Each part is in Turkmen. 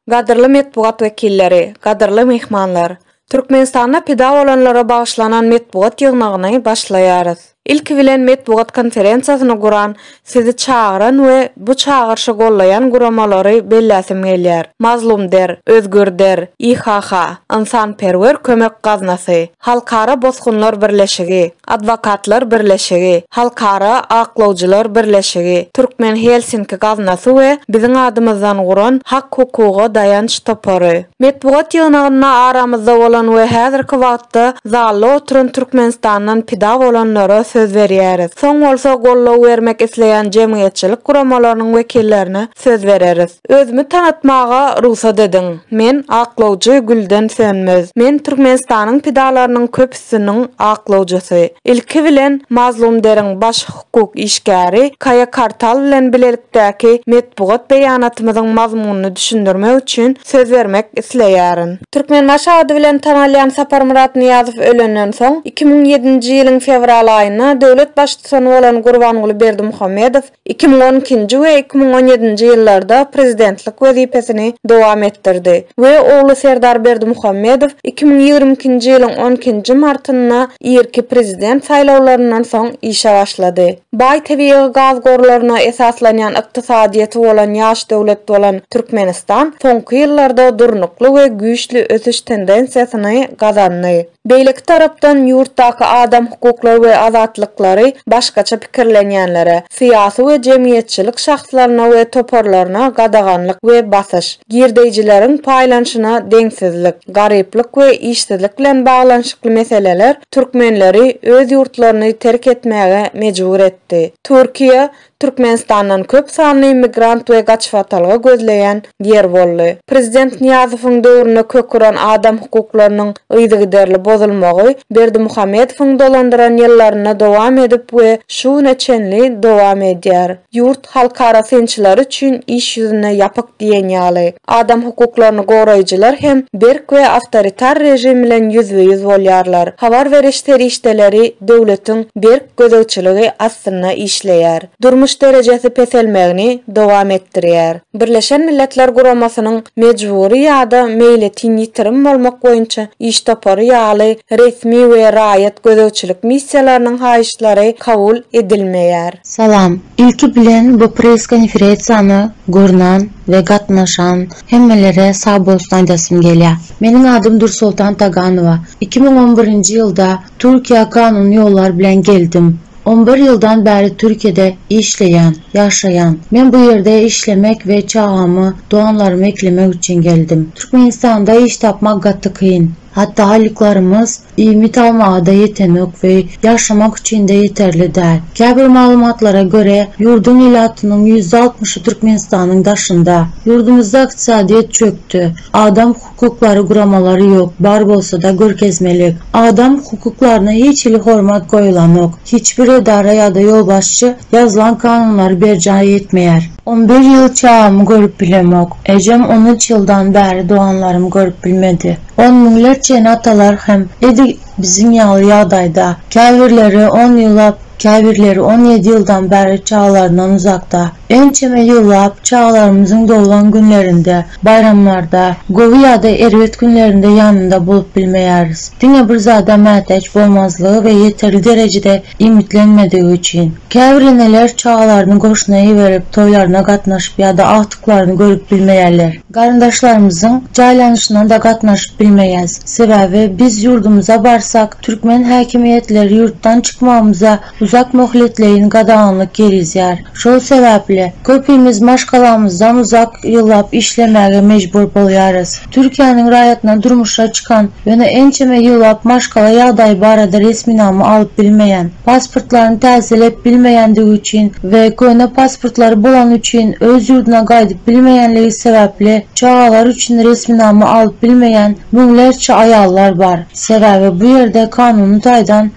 Gadyrly metbugat wekilleri, gadyrly myhmanlar! Türkmenistanda pida bolanlara bagyşlanan metbugat ýygnagyny başlaýarys. Ilki bilen metbugat konferensiýasyny guran Sizi çagyran we bu çagyryşy gollaýan guramalary belläsim gelýär, Mazlumder, Özgürder, IHH, Ynsanperwer kömek gaznasy, Halkara bosgunlar birleşigi, Adwokatlar birleşigi, Halkara aklawjylar birleşigi, Türkmen Helsinki gaznasy we biziň adymyzdan guran Hak-hukuga daýanç topary. Metbugat ýygnagynda aramyzda bolan we häzirki wagtda zalda oturan Türkmenistandan pida bolanlara söz berýäris. Soň bolsa goldaw bermek isleýän jemgyýetçilik guramalarynyň wekillerine söz bereris. Özümi tanatmaga rugsat ediň. Men aklawjy Gülden Sönmez. Men Türkmenistanyň pidalarynyň köpüsiniň aklawjysy. Ilki bilen, Mazlum Deriň baş. Hukuk işgäri Kaýa Kartal bilen bilelikdäki metbugat beýanatymyzyň mazmunyny düşündirmek üçin söz bermek isleýärin. Türkmenbaşy ady bilen tanalýan Saparmyrat Nyýazow ölenden soň, iki müň ýedinji ýylyň fewral aýynda döwlet Baştutany bolan Gurbanguly Berdimuhamedow iki müň on ikinji we iki müň on ýedinji ýyllarda prezidentlik wezipesini dowam etdirdi we ogly Serdar Berdimuhamedow iki müň ýigrimi ikinji ýylyň on ikinji martynda irki prezident saýlawlaryndan soň işe başlady. Baý tebigy gaz gorlaryna esaslanýan ykdysadyýeti bolan ýaş döwlet bolan Türkmenistan soňky ýyllarda durnukly we güýçli ösüş tendensiýasyny gazandy. Beýleki tarapdan ýurtdaky adam hukuklary we azatlyklary başgaça pikirlenýänlere, syýasy we jemgyýetçilik şahslaryna we toparlaryna gadaganlyk we basyş, girdeýjileriň paýlanyşyna deňsizlik, garyplyk we işsizlik bilen baglanyşykly meseleler türkmenleri öz ýurtlaryny terk etmäge mejbur etdi. Türkiýe, Türkmenistandan köp sanly migrant we gaçybatalga gözleýän ýer boldy. Prezident Nyýazowyň döwründe kök uran adam hukuklarynyň yzygiderli bozulmagy Berdimuhamedowyň dolandyran ýyllarynda dowam edip we şu güne çenli dowam edýär. Ýurt halkara synçylary üçin iş ýüzünde ýapyk diýen ýaly. Adam hukuklaryny goraýjylar hem berk we awtoritar režim bilen ýüzbe-ýüz bolýarlar. Habar beriş serişdeleri döwletiň berk gözegçiligi astynda işleýär. durmuş derejesi peselmegini dowam etdirýär. Birleşen Milletler Guramasynyň Mejbury ýa-da meýletin ýitirim bolmak boýunça iş topary ýaly resmi we raýat gözegçilik missiýalarynyň haýyşlary kabul edilmeýär. Salam. Ilki bilen bu press konferesiýany görnan we gatnaşan hemmelere sag bolsun aýdasym gelýä. Meniň adym Dursoltan Taganowa. Iki müň on birinji ýylda Türkiýä kanuny ýollar bilen geldim. On bir ýyldan bäri Türkiýede işleýän, ýaşaýan. Men bu ýerde işlemek we çagamy, doganlarymy eklemek üçin geldim. Türkmenistanda iş tapmak gaty kyn. Hatda aýlyklarymyz iýmit almaga-da ýetenok we ýaşamak üçin-de ýeterli däl. Käbir maglumatlara görä, ýurduň ilatynyň ýüzde altmyşy Türkmenistanyň daşynda. Ýurdumyzda ykdysadyýet çökdi. Adam. Hukuklary guramalary ýok, bar bolsada görkezmelik. Adam hukuklaryna hiç hili hormat goýulanok. Hiç bir edara ýada ýolbaşçy ýazylan kanunlary berjaý etmeýär. On bir ýyl çagamy görüp bilemok. Ejem on üç ýyldan bäri doganlarym görüp bilmedi. On müňlerçe ene atalar hem edi biziň ýaly ýagdaýda. Käbirleri on ýyllap, käbirleri on ýedi ýyldan bäri çagalaryndan uzakda. Ençeme ýyllap çagalarymyzyň doglan günlerinde, baýramlarda, gowy ýa-da erbet günlerinde ýanynda bolup bilmeýäris. Diňe bir zada mätäç bolmazlygy we ýeterli derejede iýmitlenmedigi üçin. Käbir eneler çagalaryny goşuna iberip, toýlaryna gatnaşyp ýa-da agtyklaryny görüp bilmeýärler. Garyndaşlarymyzyň jaýlanyşyna-da gatnaşyp bilmeýäs. Sebäbi biz ýurdumyza barsak, türkmen häkimiýetleri ýurtdan çykmagymyza uzak möhletleýin gadaganlyk girizýär. Şol sebäpli, köpimiz maşgalamyzdan uzak ýyllap işlemäge mejbur bolýarys. Türkiýäniň raýatyna durmuşa çykan, ýöne ençeme ýyllap maşgala ýagdaýy barada resminama alyp bilmeýän, pasportlaryny täzeläp bilmeýändigi üçin we köne pasportlary bolany üçin öz ýurduna gaýdyp bilmeýänligi sebäpli çagalar üçin resminama alyp bilmeýän müňlerçe aýallar bar. Sebäbi bu ýerde kanuny taýdan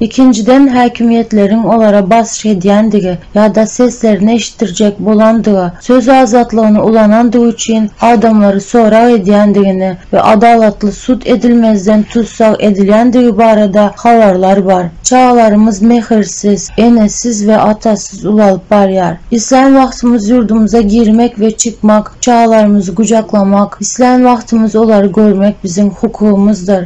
Ikinjiden, häkimiýetleriň olara basyş edýändigi ýa-da seslerini eşitdirjek bolandygy, söz azatlygyny ulanandygy üçin adamlary sorag edýändigini we adalatly sud edilmezden tussag edilýändigi barada habarlar bar. Çagalarymyz mähirsiz, enesiz we atasyz ulalyp barýar. Islän wagtymyz ýurdumyza girmek we çykmak, çagalarymyzy gujaklamak, islän wagtymyz olary görmek biziň hukugymyzdyr.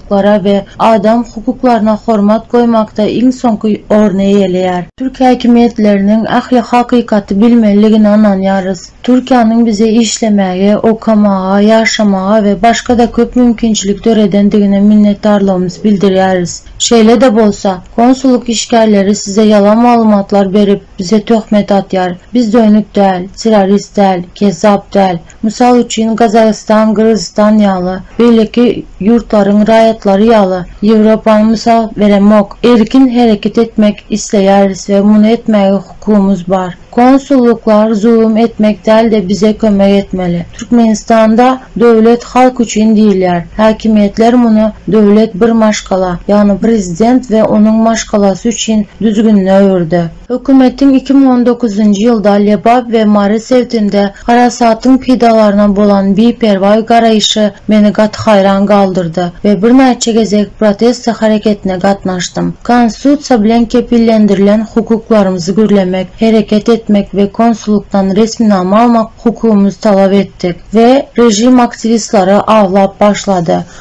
hukuklary we adam hukuklaryna hormat goýmakda iň soňky orny eýeleýär. Türkiýe häkimiýetleriniň ähli hakykaty bilmelidigine ynanýarys. Türkiýäniň bize işlemäge, okamaga, ýaşamaga we başga-da köp mümkinçilik döredendigine minnetdarlygymyzy bildirýäris. Şeýle-de bolsa, konsullyk işgärleri size ýalan maglumatlar berip, bize töhmet atýar. Biz dönük däl, terrorist däl, kezzap däl. Mysal üçin, Gazagystan, Gyrgyzystan ýaly beýleki ýurtlaryň raýatlary ýaly Ýewropany mysal beremok. Erkin hereket etmek isleýäris we muny etmäge hukumymyz bar. Konsullyklar zulum etmek däl-de bize kömek etmeli. Türkmenistanda Döwlet halk üçin diýilýär. Häkimiýetler muny döwlet bir maşgala, ýagny prezident we onuň maşgalasy üçin düzgünine öwürdi. Hökümetiň iki müň on dokuzynjy ýylda Lebap we Mary sebtinde harasatyň pidalaryna bolan biperwaý garaýşy meni gaty haýran galdyrdy we birnäçe gezek proteste hareketine gatnaşdym. Konstitusiýa bilen kepillendirilen hukuklarymyzy gürlemek, hereket etmek we konsullykdan resminama almak hukugymyzy talap etdik we režim aktiwistleri awlap başlady.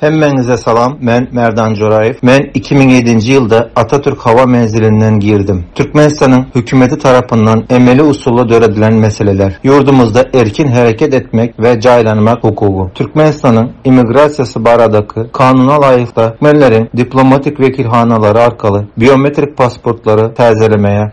Hemmäňize salam, men Merdan Joraýew. Men iki müň ýedinji ýylda Atatürk howa menzilinden girdim. Türkmenistanyň Hökümeti tarapyndan emeli usulda döredilen meseleler, ýurdumyzda erkin hereket etmek we jaýlanmak hukugy, Türkmenistanyň immigrasiýasy baradaky kanuna laýyklykda türkmenleriň diplomatik wekilhanalary arkaly biometrik pasportlary täzelemäge,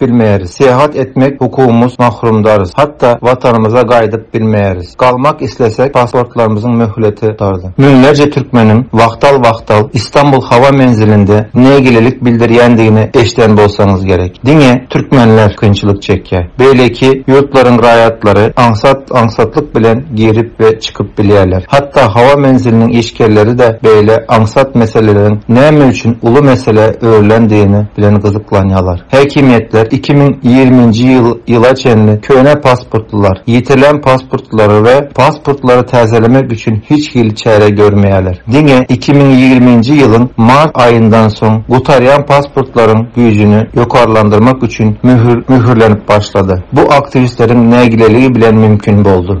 Bilmeris. Syýahat etmek hukumymyz mahrumdarys. Hatda Watanymyza gaýdyp bilmeris. Galmak islesek pasportlarymyzyň möhleti gutardy. Müňlerje türkmeniň wagtal-wagtal Istanbul howa menzilinde nägilelik bildirýändigini eşden bolsaňyz gerek. Diňe türkmenler kynçylyk çekýär. Beýleki ýurtlaryň raýatlary aňsat-aňsatlyk bilen girip we çykyp bilýärler. Hatda howa menziliniň işgärleri-de beýle aňsat meseleleriň näme üçin uly meselä öwrülendigini bilen gyzyklanýarlar. Häkimiýetler iki müň ýigriminji ýyl ýyla çenli köne pasportlylar, ýitirilen pasportlary we pasportlary täzelemek üçin hiç hili çäre görmeýärler. Diňe iki müň ýigriminji ýylyň mart aýyndan soň gutarýan pasportlaryň güýjüni ýokarlandyrmak üçin möhür möhürlenip başlady. Bu aktiwistleriň nägileligi bilen mümkin boldy.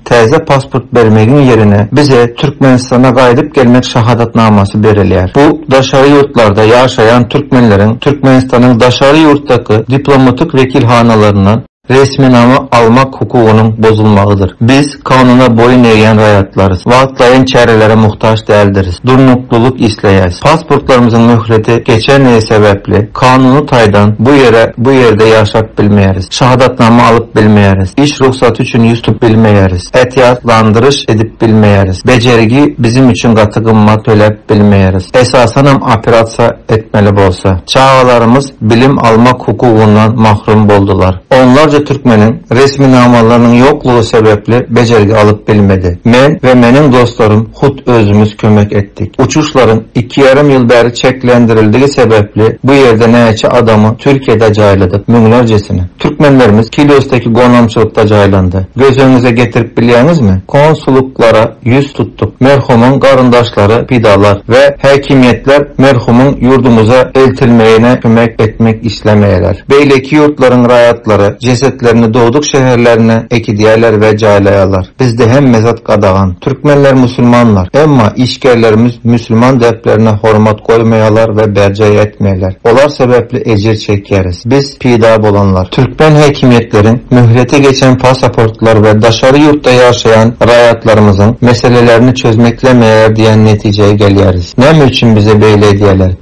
Täze pasport bermegiň ýerine bize Türkmenistana gaýdyp gelmek şahadatnamasy berilýär. Bu daşary ýurtlarda ýaşaýan türkmenleriň Türkmenistanyň daşary ýurtdaky diplomatik wekilhanalaryndan resminama almak hukugynyň bozulmagydyr. Biz kanuna boýun egýän raýatlarys. Wagtlaýyn çärelere muhtaç däldiris. Durnuklylyk isleýäs. Pasportlarymyzyň möhleti geçendigi sebäpli kanuny taýdan bu ýere bu ýerde ýaşap bilmeýäris. Şahadatnama alyp bilmeýäris. Iş rugsaty üçin ýüz tutup bilmeýäris. Ätiýaçlandyryş edip bilmeýäris. Bejergi bizim üçin gaty gymmat töläp bilmeýäris. Esasanam operasiýa etmeli bolsa. Çagalarymyz bilim almak hukugyndan mahrum boldular. Onlarça türkmeniň resminamalarynyň ýoklugy sebäpli bejergi alyp bilmedi. Men we meniň dostlarym hut özümiz kömek etdik. Uçuşlaryň iki ýarym ýyl bäri çäklendirildigi sebäpli bu ýerde näçe adamy Türkiýede jaýladyk, müňlerjesini. Türkmenlerimiz Kiliosdaki gonamçylykda jaýlandy. Göz öňüňize getirip bilýäňizmi? Konsullyklara ýüz tutduk. Merhumyň garyndaşlary, pidalar we häkimiýetler merhumyň ýurdumyza eltilmegine kömek etmek islemeýärler. Beýleki ýurtlaryň raýatlary jesetlerini dogduk şäherlerine ekidýärler we jaýlaýarlar. Bizde hemme zat gadagan. Türkmenler musulmanlar. Emma işgerlerimiz musulman däplerine hormat goýmaýalar we berjaý etmeýler. Olar sebäpli ejir çekýäris. Biz pida bolanlar. Türkmen häkimiýetleriň möhleti geçen pasaportlar we daşary ýurtda ýaşaýan raýatlarymyzyň meselelerini çözmeklemeýär diýen netijä gelýäris. Näme üçin bize beýle edýäler?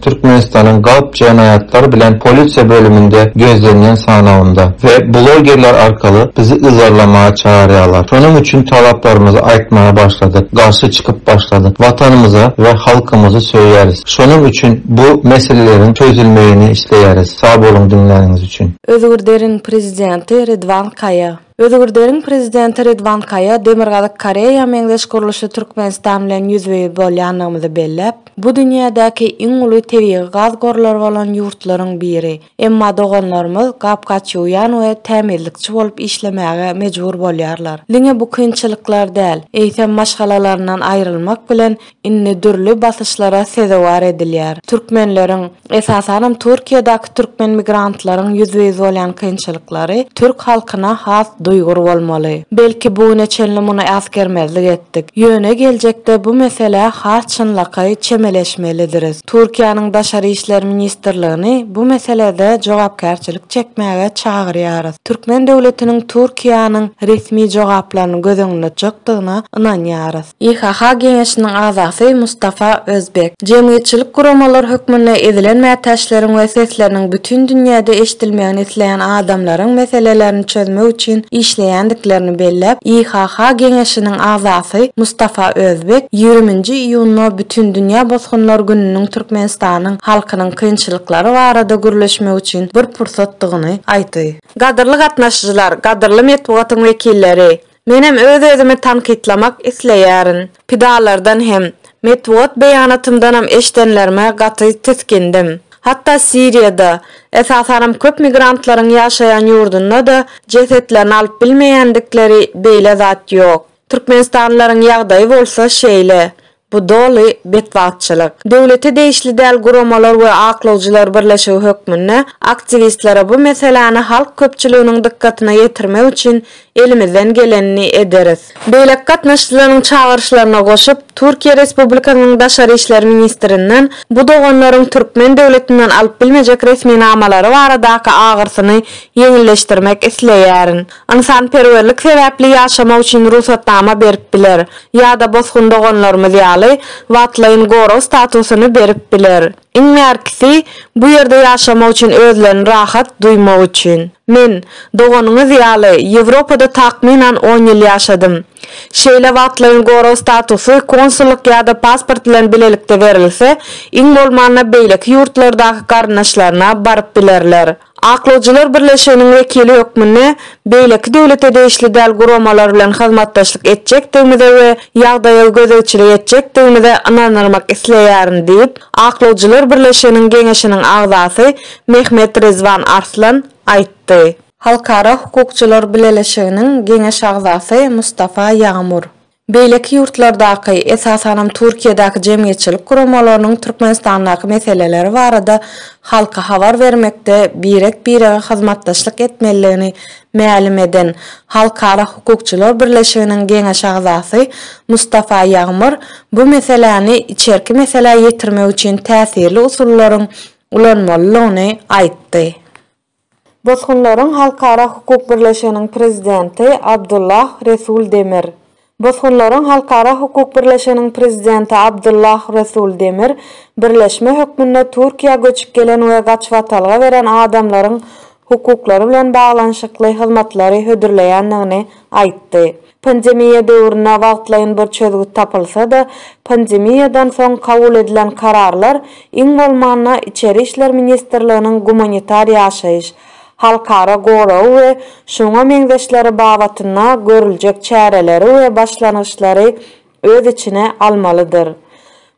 Türkmenistanyň Galp jenaýatlar bilen polisiýa bölüminde gözlenýän sanawynda we blogerler arkaly bizi yzarlamaga çagyrýarlar. Şonuň üçin talaplarymyzy aýtmaga başladyk, garşy çykyp başladyk. Watanymyzy we halkymyzy söýýäris. Şonuň üçin bu meseleleriň çözülmegini isleýäris. Sag boluň diňläniňiz üçin. Özgürderin prezidenti Ridwan Kaýa. Özgrderiň prezidenti Ridwan Kaýa Demirgazyk Koreýa meňzeş gurluşly Türkmenistan bilen ýüzbe-ýüz bolýandygymyzy belläp, Bu dünýädäki iň uly tebigy gaz gorlary bolan ýurtlaryň biri. Emma doganlarymyz gap-gaçýuwýan we tämizlikçi bolup işlemäge mejbur bolýarlar. Diňe bu kynçylyklar däl, eýsem maşgalalaryndan aýrylmak bilen indi dürli basyşlara sezewar edilýär. Türkmenleriň, esasanam Türkiýedäki türkmen migrantlaryň ýüzbe-ýüz bolýan kynçylyklary türk halkyna has duýgur bolmaly. Belki bu güne çenli muny äsgermezlik etdik. Ýöne geljekde bu meselä has çynlakaý çemeleşmelidiris. Türkiýäniň Daşary işler ministrligini bu meselede jogapkärçilik çekmäge çagyrýarys. Türkmen döwletiniň Türkiýäniň resmi jogaplaryny göz öňünde tutjakdygyna ynanýarys. YHH geňeşiniň agzasy Mustafa Özbek, Jemgyýetçilik guramalar hökmünde ezilen mätäçleriň we sesleriniň bütin dünýäde eşidilmegini isleýän adamlaryň meselelerini çözmek üçin işleýändiklerini belläp, YHH geňeşiniň agzasy Mustafa Özbek ýigrimi nji iýunda Bütindünýä bosgunlar gününiň Türkmenistanyň halkynyň kynçylyklary barada gürleşmek üçin bir pursatdygyny aýtdy. Gadyrly gatnaşyjylar, gadyrly metbugatyň wekilleri! Menem öz-özümi tankytlamak isleýärin. Pidalardan hem, metbugat beýanatymdanam eşdenlerime gaty tisgindim. Hatda Siriýada, esasanam köp migrantlaryň ýaşaýan ýurdunda-da jesetlerini alyp bilmeýändikleri beýle zat ýok. Türkmenistanlylaryň ýagdaýy bolsa şeýle. Bu doly betbagtçylyk. Döwlete degişli däl guramalar we aklawjylar birleşigi hökmünde aktiwistlere bu meseläni halk köpçüliginiň dykgatyna ýetirmek üçin elimizden gelenini ederis. Beýleki gatnaşyjylaryň çagyryşlaryna goşup, Türkiýe Respublikasynyň Daşary işler ministrinden bu doganlaryň türkmen döwletinden alyp bilmejek resminamalary baradaky agyrsyny ýeňilleşdirmek isleýärin. Ynsanperwerlik sebäpli ýaşamak üçin rugsatnama berip biler ýa-da bosgun doganlarymyz ýaly wagtlaýyn gorag statusyny berip biler. Iň bärkisi, bu ýerde ýaşamak üçin özlerini rahat duýmak üçin. Men, doganyňyz ýaly, Ýewropada takmynan on ýyl ýaşadym. Şeýle wagtlaýyn gorag statusy konsullyk ýa-da pasport bilen bilelikde berilse, iň bolmanda beýleki ýurtlardaky garyndaşlaryna baryp bilerler. Aklawjylar birleşiginiň wekili hökmünde beýleki döwlete degişli däl guramalar bilen hyzmatdaşlyk etjekdigimize we ýagdaýa gözegçilik etjekdigimize ynandyrmak isleýärin diýip, Aklawjylar birleşiginiň Geňeşiniň agzasy Mehmet Rizwan Arslan aýtdy. Halkara hukukçylar bileleşiginiň Geňeş agzasy Mustafa Ýagmur, Beýleki ýurtlardaky, esasanam Türkiýedäki jemgyýetçilik guramalarynyň Türkmenistandaky meseleleri barada halka habar bermekde birek-birege hyzmatdaşlyk etmelidigini mälim eden Halkara hukukçylar birleşiginiň geňeş agzasy Mustafa Ýagmyr bu meseläni içerki meselä ýetirmek üçin täsirli usullaryň ulanmalydygyny aýtdy. Bosgunlaryň Halkara hukuk birleşiginiň prezidenti Abdullah Resul Demir Bosgunlaryň Halkara hukuk birleşiginiň prezidenti Abdullah Resul Demir birleşme hökmünde Türkiýä göçüp gelen we gaçybatalga beren adamlaryň hukuklary bilen baglanyşykly hyzmatlary hödürleýändigini aýtdy. Pandemiýa döwründe wagtlaýyn bir çözgüt tapylsa-da, pandemiýadan soň kabul edilen kararlar, iň bolmanda, Içeri işler ministrliginiň gumanitar ýaşaýyş, halkara goragy we şuňa meňzeşleri babatynda görüljek çäreleri we başlangyçlary öz içine almalydyr.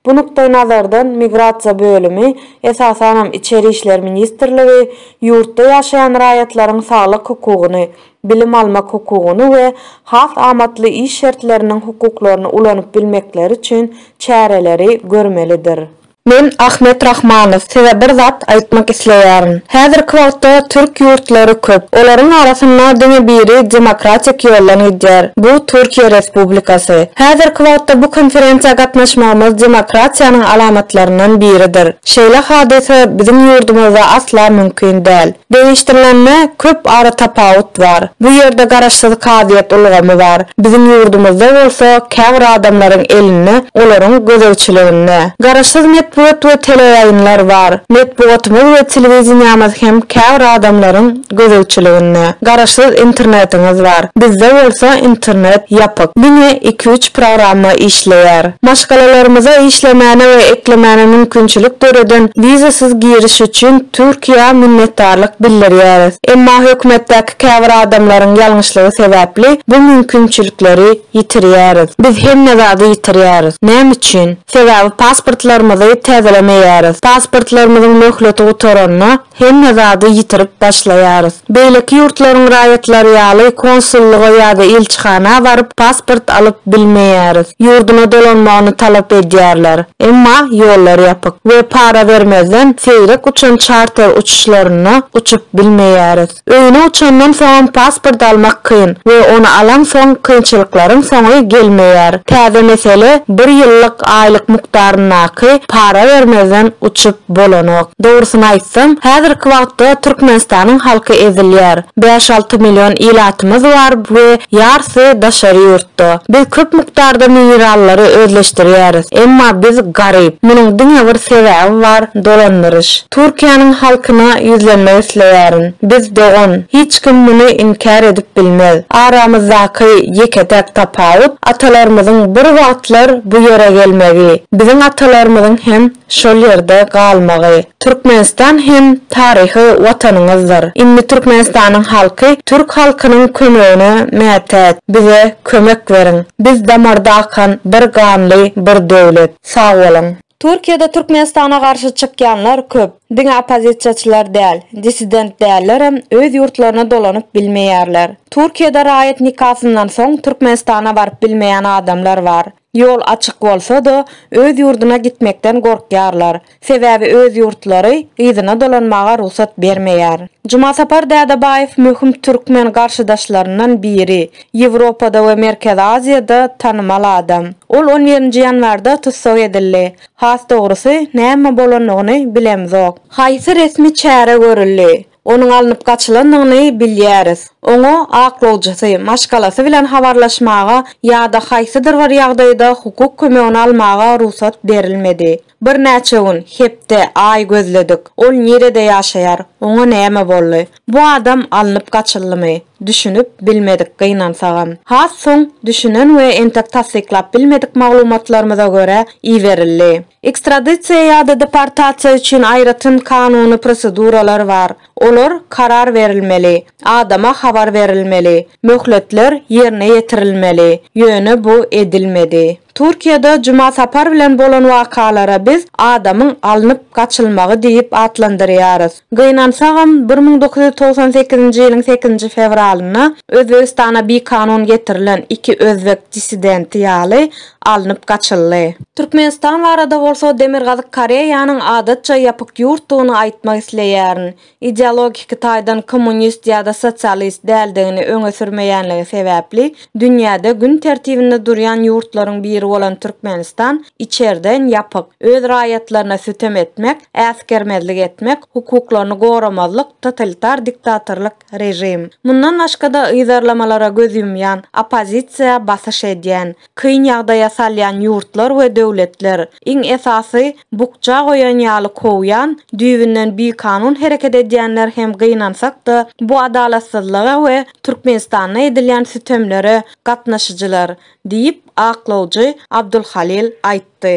Bu nukdaýnazardan migrasiýa bölümi, esasanam Içeri işler ministrligi, ýurtda ýaşaýan raýatlaryň saglyk hukugyny, bilim almak hukugyny we has amatly iş şertleriniň hukuklaryny ulanyp bilmekleri üçin çäreleri görmelidir. Men Ahmet Rahmanow size bir zat aýtmak isleýärin. Häzirki wagtda türk ýurtlary köp. Olaryň arasynda diňe biri demokratik ýoldan gidýär. Bu Türkiýe Respublikasy. Häzirki wagtda bu konferensiýa gatnaşmagymyz demokratiýanyň alamatlaryndan biridir. Şeýle hadysa biziň ýurdumyzda asla mümkin däl. Deňeşdirilende köp ara tapawut bar. Bu ýerde garaşsyz kazyýet ulgamy bar. Biziň ýurdumyzda bolsa käbir adamlaryň elinde, olaryň gözegçiliginde. Garaşsyz metbugat we teleýaýynlar bar. Metbugatymyz we telewideniýämiz hem käbir adamlaryň gözegçiliginde. Garaşsyz internetiňiz bar. Bizde bolsa internet ýapyk. Diňe iki-üç programma işleýär. Maşgalalarymyza işlemäne we eklemäne mümkinçilik döreden wizasyz giriş üçin Türkiýä minnetdarlyk bildirýäris. Emma hökümetdäki käbir adamlaryň ýalňyşlygy sebäpli bu mümkinçilikleri ýitirýäris. Biz hemme zady ýitirýäris. Näme üçin? Sebäbi pasportlarymyzy täzelemeýäris. Pasportlarymyzyň möhleti gutaranda, hemme zady ýitirip başlaýarys. Beýleki ýurtlaryň raýatlary ýaly konsullyga ýa-da ilçihana baryp pasport alyp bilmeýäris. Ýurduna dolanmagyny talap edýärler. Emma ýollar ýapyk we para bermezden seýrek uçan çarter uçuşlarynda uçup bilmeýäris. Öýüne uçandan soňam pasport almak kyn we ony alansoň kynçylyklaryň soňy gelmeýär. Täze mesele bir ýyllyk aýlyk mukdaryndaky para bermezden uçup bolanok. Dogrusyny aýtsam, häzirki wagtda Türkmenistanyň halky ezilýär. Bäş-alty million ilatymyz bar we ýarsy daşary ýurt. Nokta. Biz köp mukdarda minerallary özleşdirýäris. Emma biz garyp. Munuň diňe bir sebäbi bar, dolandyryş. Türkiýäniň halkyna ýüzlenmek isleýärin. Biz dogan. Hiç kim muny inkär edip bilmez. Aramyzdaky ýeke-täk tapawut, atalarymyzyň bir wagtlar bu ýere gelmegi. Biziň atalarymyzyň hem. şol ýerde galmagy. Türkmenistan hem taryhy watanyňyzdyr. Indi Türkmenistanyň halky türk halkynyň kömegine mätäç. Bize kömek beriň. Biz damarda akan bir ganly bir döwlet. Sag boluň. Türkiýede Türkmenistana garşy çykýanlar köp. Diňe oppozisiýaçylar däl, dissident dällerem öz ýurtlaryna dolanyp bilmeýärler. Türkiýede raýat nikasyndan soň Türkmenistana baryp bilmeýän adamlar bar. Ýol açyk bolsa-da, öz ýurduna gitmekden gorkýarlar. Sebäbi öz ýurtlary yzyna dolanmaga rugsat bermeýär. Jumasapar Dädebaýew möhüm türkmen garşydaşlaryndan biri, Ýewropada we Merkezi Aziýada tanymal adam. Ol on birinji ýanwarda tussag edildi. Has dogrusy, näme bolandygyny bilemzok. Haýsy resmi çäre görüldi? Onuň alnyp gaçylandygyny bilýäris. Oňa aklawjysy, maşgalasy bilen habarlaşmaga ýa-da haýsydyr bir ýagdaýda hukuk kömegini almaga rugsat berilmedi. Birnäçe gün, hepde, aý gözledik. Ol nirede ýaşaýar? Oňa näme boldy? Bu adam alnyp gaçyldymy? Düşünip bilmedik gynansagam. Has soň düşünen we entek tassyklap bilmedik maglumatlarymyza görä iberildi. Ekstradisiýa ýa-da deportasiýa üçin aýratyn kanuny proseduralar bar. Olar karar berilmeli, adama habar berilmeli, möhletler ýerine ýetirilmeli, ýöne bu edilmedi. Türkiýede Juma Sapar bilen bolan wakalara biz adamyň alnyp gaçylmagy diýip atlandyrýarys. Gynansagam, bir müň dokuz ýüz togsan sekizinji ýylyň sekizinji fewralynda Özbegistana bikanun getirilen iki özbek dissidenti ýaly alnyp gaçyldy. Türkmenistan barada bolsa Demirgazyk Koreýanyň adatça ýapyk ýurtdugyny aýtmak isleýärin. Ideologiki taýdan kommunist ýa-da sosialist däldigini öňe sürmeýänligi sebäpli dünýäde gün tertibinde durýan ýurtlaryň biri bolan Türkmenistan içerden ýapyk, öz raýatlaryna sütem etmek, äsgermezlik etmek, hukuklaryny goramazlyk, totalitar diktatorlyk, režim, mundan başga-da yzarlamalara göz ýumýan oppozisiýa basyş edýän, kyn ýagdaýa salýan ýurtlar we döwletler, iň esasy, bukja goýan ýaly kowýan, düýbünden bikanun hereket edýänler hem gynansak-da, bu adalatsyzlyga we Türkmenistanda edilýän sütemlere gatnaşyjylar, diýip, aklawjy Abdulhalil aýtdy.